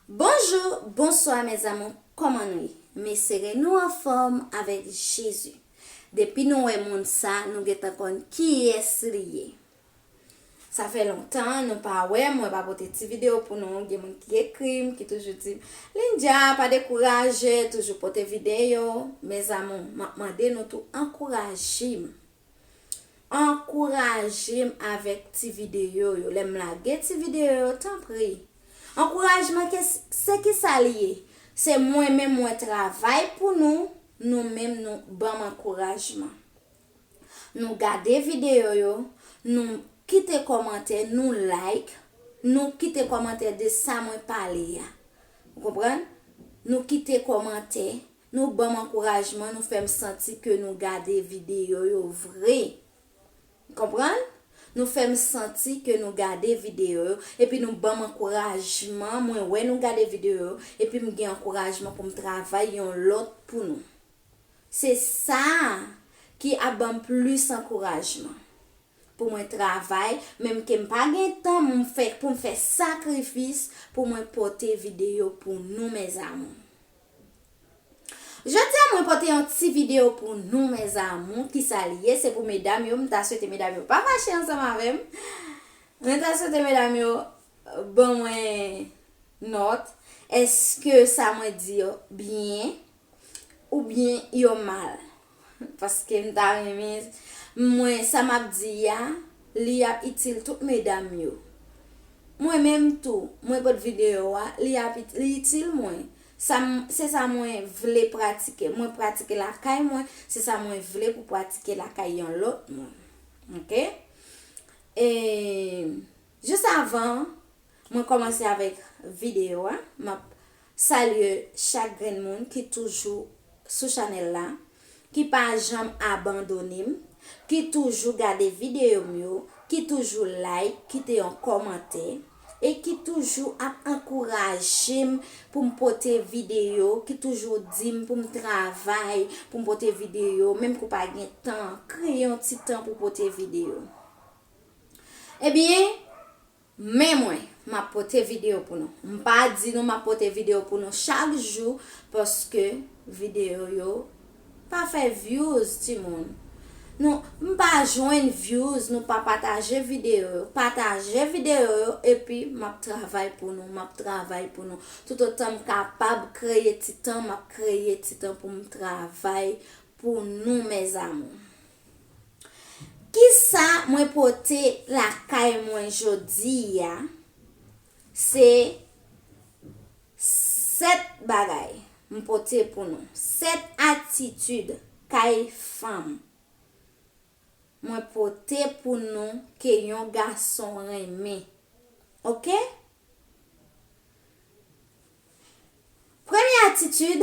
Bonjou bonswa mes amour koman nou ye mes sere nou anfom avek jezi depi nou wè moun sa nou gentan konn kiyes li ye sa fè lontan nou pa wè mwen pa pote ti video pou nou gen moun ki ekrim ki toujou dim Lindia pa dekouraje toujou pote video mes amour map mande nou tou ankourajim. Ankourajem avèk ti videyo yo lèm lage ti videyo yo tanpri Ankourajman se kisa li ye se mwen menm mwen travay pou nou nou menm nou banm ankourajman nou gade videyo yo nou Kite kòmantè nou like nou Kite kòmantè de sa mwen pale a ou konprann nou Kite kòmantè Nou banm ankourajman nou fèm santi ke nou gade video yo vre konprann nou fèm santi ke nou gade video yo epi nou banm ankourajman mwen wè nou gade video yo epim gen ankourajman poum travay yon lòt pou nou se sa ki ap banm plis ankourajman pou mwen travay menm kem pa gen tan poum fè sakrifis pou mwen pote video pou nou mes amour. Jodia mwen pote yon ti video pou nou mes amour kisa li ye se pou medam yo m ta swete medam yo pa fache ansanm avem mwen ta swete medam yo ban mwen not eske sa mwen di yo byen ou byen yo mal. Paskem ta renmen Mwen sa map di ya li ap itil tout medam yo Mwen menm tou Mwen pot video wa li ap li itil Mwen sa se sa Mwen vle pratike Mwen pratike lakay Mwen se sa Mwen vle pou pratike lakay yon lot moun ok ee jis avan Mwen komanse avek video a map salye chak grenn moun ki toujou sou chanel la ki pa janm abandonem ki toujou gade video m yo ki toujou like kite yon komantè e ki toujou ap ankourajem poum pote video ki toujou dim poum travay poum pote video menm ke w pa gen tan kreye yon ti tan pou pote video ebyen. Men mwen, m ap pote videyo pou nou. M pa di nou m ap pote videyo pou nou chak jou paske videyo yo pa fè vyouz timoun. Nou m pa jwenn vyouz nou pa pataje videyo yo. Pataje videyo yo epi m ap travay pou nou, m ap travay pou nou. Toutotan m kapab kreye ti tan, m ap kreye ti tan pou m travay pou nou mes amours. Kisa mwen pote lakay mwen jodi a? Se 7 bagay m pote pou nou. 7 atitid kay fanm mwen pote pou nou ke yon gason renmen. Ok? Premye atitid.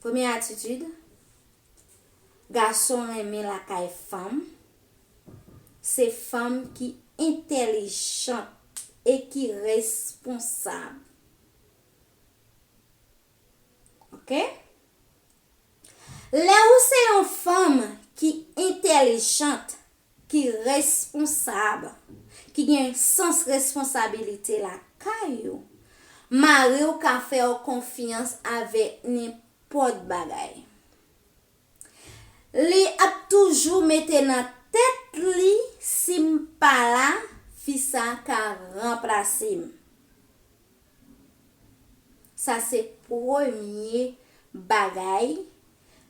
Premye atitid, Gason renmen lakay fanm, se fanm ki entèlijant e ki responsab. Ok? Lè ou se yon fanm ki entèlijant, ki responsab, ki gen sans responsabilite lakay ou, mari w ka fè w konfyans avèk nenpòt bagay. Li ap toujou mete nan tèt li si m pa la, fi sa ka ranplase m. Sa se premye bagay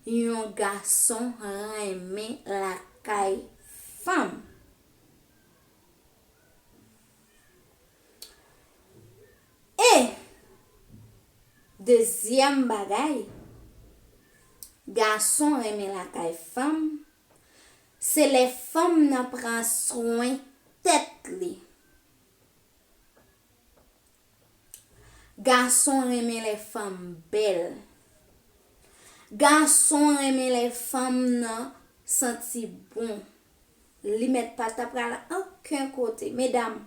yon gason renmen lakay fanm. E, dezyèm bagay, gason renmen lakay fanm, se lè fanm nan pran swen tèt li. Gason renmen lè fanm bèl. Gason renmen lè fanm nan santi bon. Li mèt pa ta pral oken kote. Medam,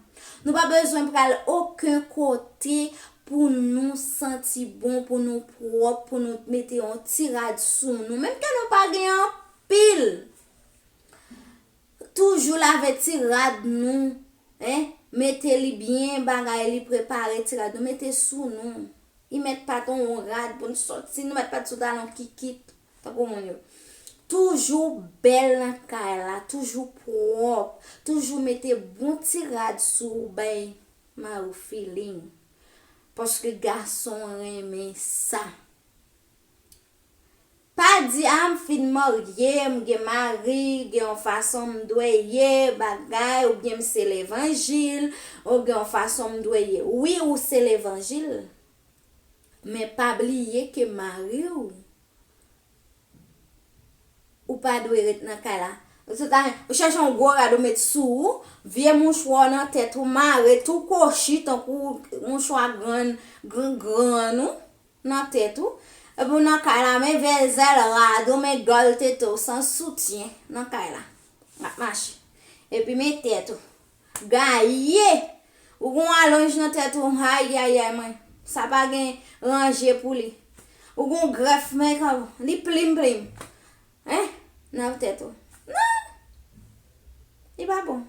nou pa bezwen pral oken kote pou nou santi bon, pou nou pwòp, pou nou mete yon ti rad sou nou. Menm ke nou pa gen anpil. Toujou lave ti rad nou hein mete li byen bagay li prepare ti rad nou mete sou nou y met pat on on rad poun soti nou met pat sou talon kikit tankou moun yo toujou bèl nan kay la toujou pwòp toujou mete bon ti rad sou ou bay mariw feeling paske gason renmen sa. Pa di ah m fin marye, m gen mari, gen yon fason m dwe ye bagay oubyen m se levanjil, ou gen yon fason m dwe ye. Wi ou se levanjil, men pa bliye ke mari w, ou pa dwe ret nan kay la. Se ta ou chèche yon gwo rad ou met sou ou, vye mouchwa w nan tèt ou mare tou kochi tankou mouchwa grann grann ou. Nan tèt ou. Epi w nan kay la men vezèl rad ou men gòl tete w san soutyen nan kay la. W ap mache. Epi men tèt ou. Gaye! Ou gen yon alonj nan tèt ou ayayay mwen. Sa pa gen ranje pou li. Ou gen yon grèf men kan ou. Li plim plim. Hein nan tèt ou nan Li pa bon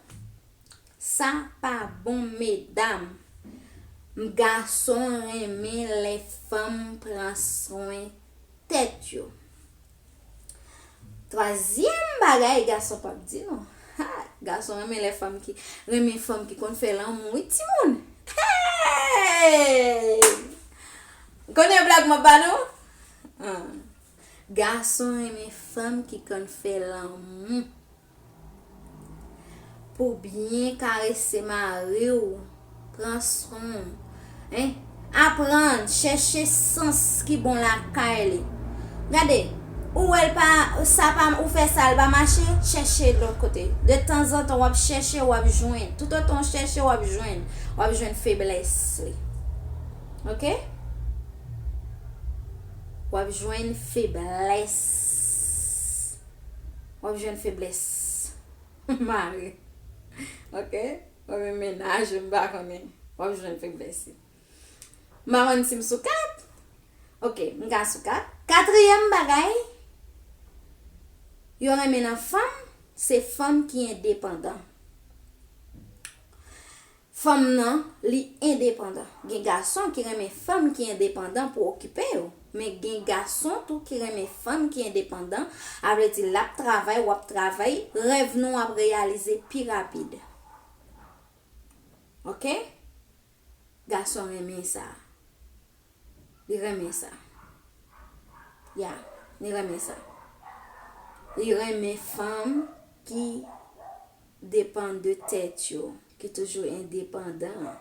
Sa pa bon medam M gason renmen lè fanm pran swen tèt yo Twazyèm bagay gason pap di nou Ha gason renmen lè fanm ki renmen fanm ki konn fè lanmou wi timoun Hey Konnen blag m ap ba nou An. Gason renmen fanm ki konn fè lanmou. Pou byen karese mari w, pran swen w. Hein? Aprann chèche sans ki bon lakay li. Gade, ou wè l pa, sa pa, ou fè sa l pa mache, chèche lòt kote. De tanzantan w ap chèche, w ap jwenn. Toutotan w chèche, w ap jwenn. W ap jwenn feblès li. Ok? Wap jwenn feblès. Wap jwenn feblès. Mari. Ok. Ou men menaj ou m pa konnen. Wap jwenn feblès. M pa konnen si m sou 4. Ok. M ka sou 4. Katriyèm bagay. Yo renmen nan fanm. Se fanm ki endepandan. Fanm nan, li endepandan. Gen gason ki renmen fanm ki endepandan pou okipe yo. Men gen gason tou ki renmen fanm ki endepandan, a vle di l ap travay, w ap travay, rèv nou ap reyalize pi rapid. Ok? Gason renmen sa. Li renmen sa. Ya, li renmen sa. Li renmen fanm ki depann de tèt yo. Ki toujou endepandan an.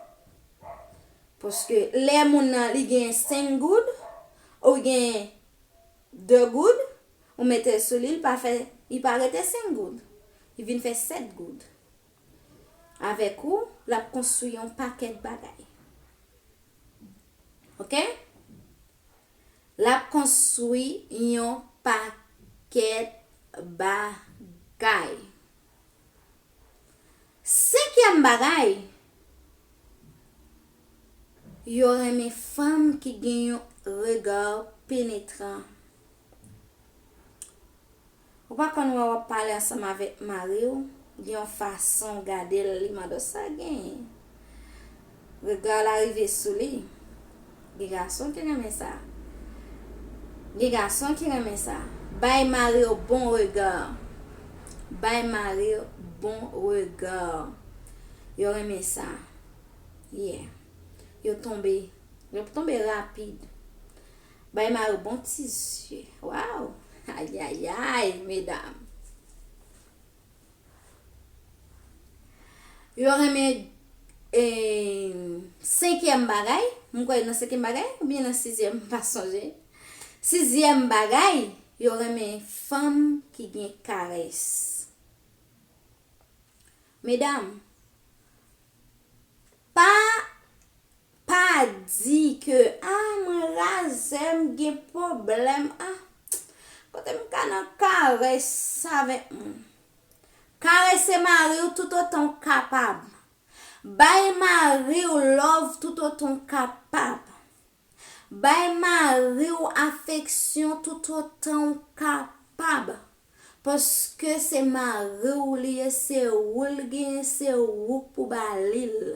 Paske lè moun nan li gen 5 goud, ou li gen 2 goud, ou mete l sou li, li pa fè, li pa rete 5 goud. Li vin fè 7 goud. Avèk ou, l ap konstwi yon pakèt bagay. Ok? L ap konstwi yon pakèt bagay. Senkyèm bagay, Yo renmen fanm ki gen yon regard penetrant. Ou pa konn wè wap pale ansanm avèk mariw, gen yon fason w gadel li mado sa gen? Rega la rive sou li. Gen gason ki renmen sa. Gen gason ki renmen sa. Bay mari w bon rega. Bay mari w bon rega. Yo renmen sa. Yeah. Yo tonbe. Yo tonbe rapid. Bay mari w bon ti zye. Waww. Ayayay, medam. Yo renmen senkyèm bagay. Mwen kwè nan senkyèm bagay. Ou byen nan sizyèm pa sonje. Sizyèm bagay. Yo renmen fanm ki gen kares. Medam. Pa pa di ke ah mwen razè m gen pwoblèm ah kote m ka nan karès avèk moun. Karese mari w toutotan w kapab. Bay mari w love toutotan w kapab. Bay mari w afeksyon toutotan w kapab, paske se mari w li ye, se ou l genyen, se ou k pou ba li l.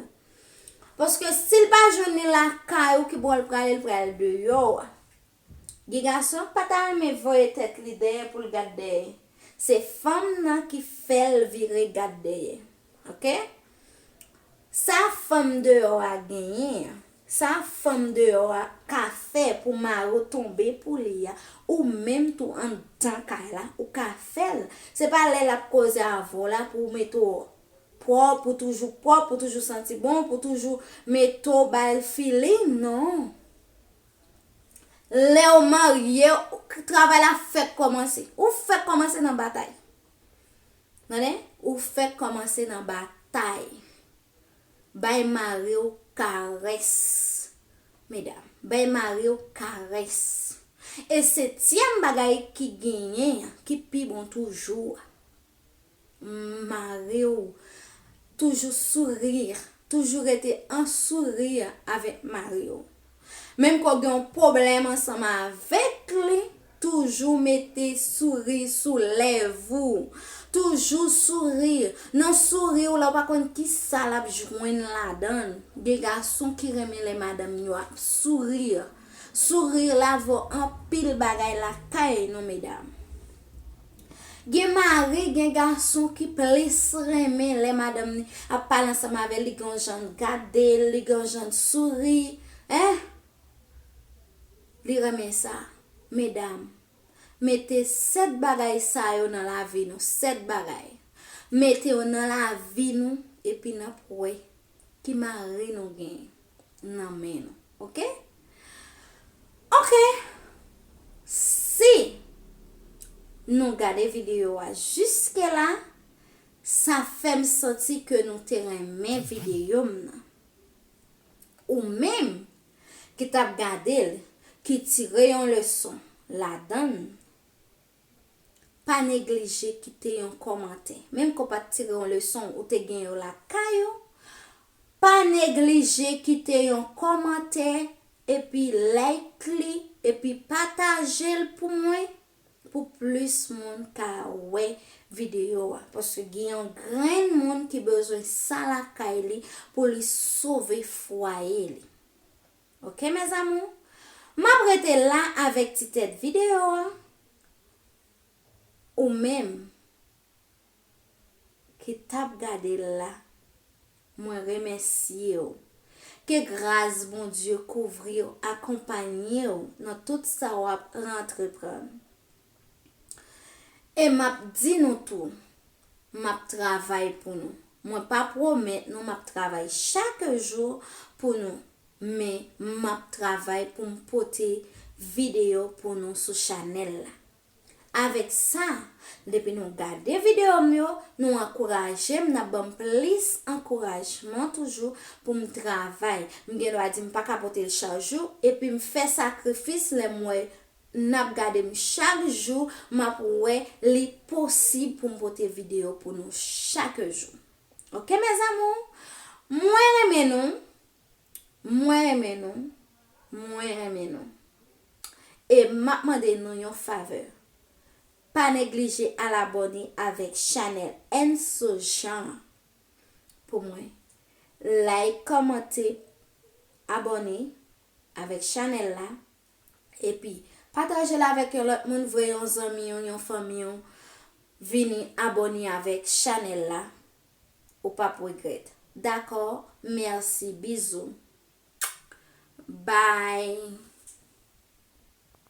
Paske si l pa jwenn li lakay ou, ki bò l prale, l pral deyò a. Gen gason k pa ta renmen voye tèt li dèyè pou l gad dèyè. Se fanm nan ki fè l vire gad dèyè. Ok Sa fanm deyò a genyen an Sa fanm deyò a ka fè pou mari w tonbe pou li a Ou menm tou anndan kay la ou ka fè l Se pa lè l ap koze avè w la pou w mete w pwòp pou w toujou pwòp pou w toujou santi bon pou w toujou mete w bay l feeling non Lè w marye Travay la fèk kòmanse Ou fèk kòmanse nan batay Tande, ou fèk kòmanse nan batay. Bay mari w karès. Medam, bay mari w karès. E setyèm bagay ki genyen an, ki pi bon toujou a, mari w toujou sourire, toujou rete an sourire avèk mari w. Menm ke w gen yon pwoblèm ansanm avèk li, toujou mete souri sou lèv ou. Toujou souri. Nan souri w la, ou pa konn ki sa l ap jwenn ladan l. Gen gason ki renmen lè madanm yo ap souri. Souri la vo anpil bagay lakay nou medam. Gen mari, gen gason ki plis renmen lè madanm ni ap pale ansanm avè l, li gen yon jan l gade l, li gen yon jan l souri. Hein! Li renmen sa. Medam, mete 7 bagay sa yo nan lavi nou, 7 bagay. Mete yo nan lavi nou epi n ap wè ki mari nou genyen. nan men nou ok ok si nou gade video a jiske la sa fèm santi ke nou te renmen video m nan ou menm ki tap gadel ki tire yon leson ladann. Pa neglije kite yon kòmantè. Menm ke w pa t tire yon leson, ou te gen yo lakay ou. Pa neglije kite yon kòmantè, epi like li, epi pataje l pou mwen, pou plis moun ka wè videyo a. Paske gen yon grenn moun ki bezwen sa lakay li pou li sove fwaye li. Ok mes amour Map rete la avek ti tet video a ou menm ki tap gadel la mwen remesyew ke gras Bondye kouvriw akonpanyew nan tout sa wap antreprann. E m ap di nou tou, m ap travay pou nou. Mwen pa pwomèt nou m ap travay chak jou pou nou, men m ap travay pou m pote videyo pou nou sou chanèl la. Avèk sa, depi nou gade videyo m yo, nou ankouraje m, n ap ban m plis ankourajman toujou pou m travay. M gen dwa di m pa ka pote l chak jou, epi m fè sakrifis lè m wè Nap gadem chak jou map wè li posib poum pote video pou nou chak jou ok mes amours mwen renmen nou mwen renmen nou mwen renmen nou e map mande nou yon favè pa neglije al abòne avèk chanèl Enso Jean an pou mwen like kòmante abòne avèk chanèl la Epi, pataje l avèk yon lòt moun vre yon zanmi w yon fanmi w vini abòne avèk chanèl la ou pap regrèt dakò merci bisous bye.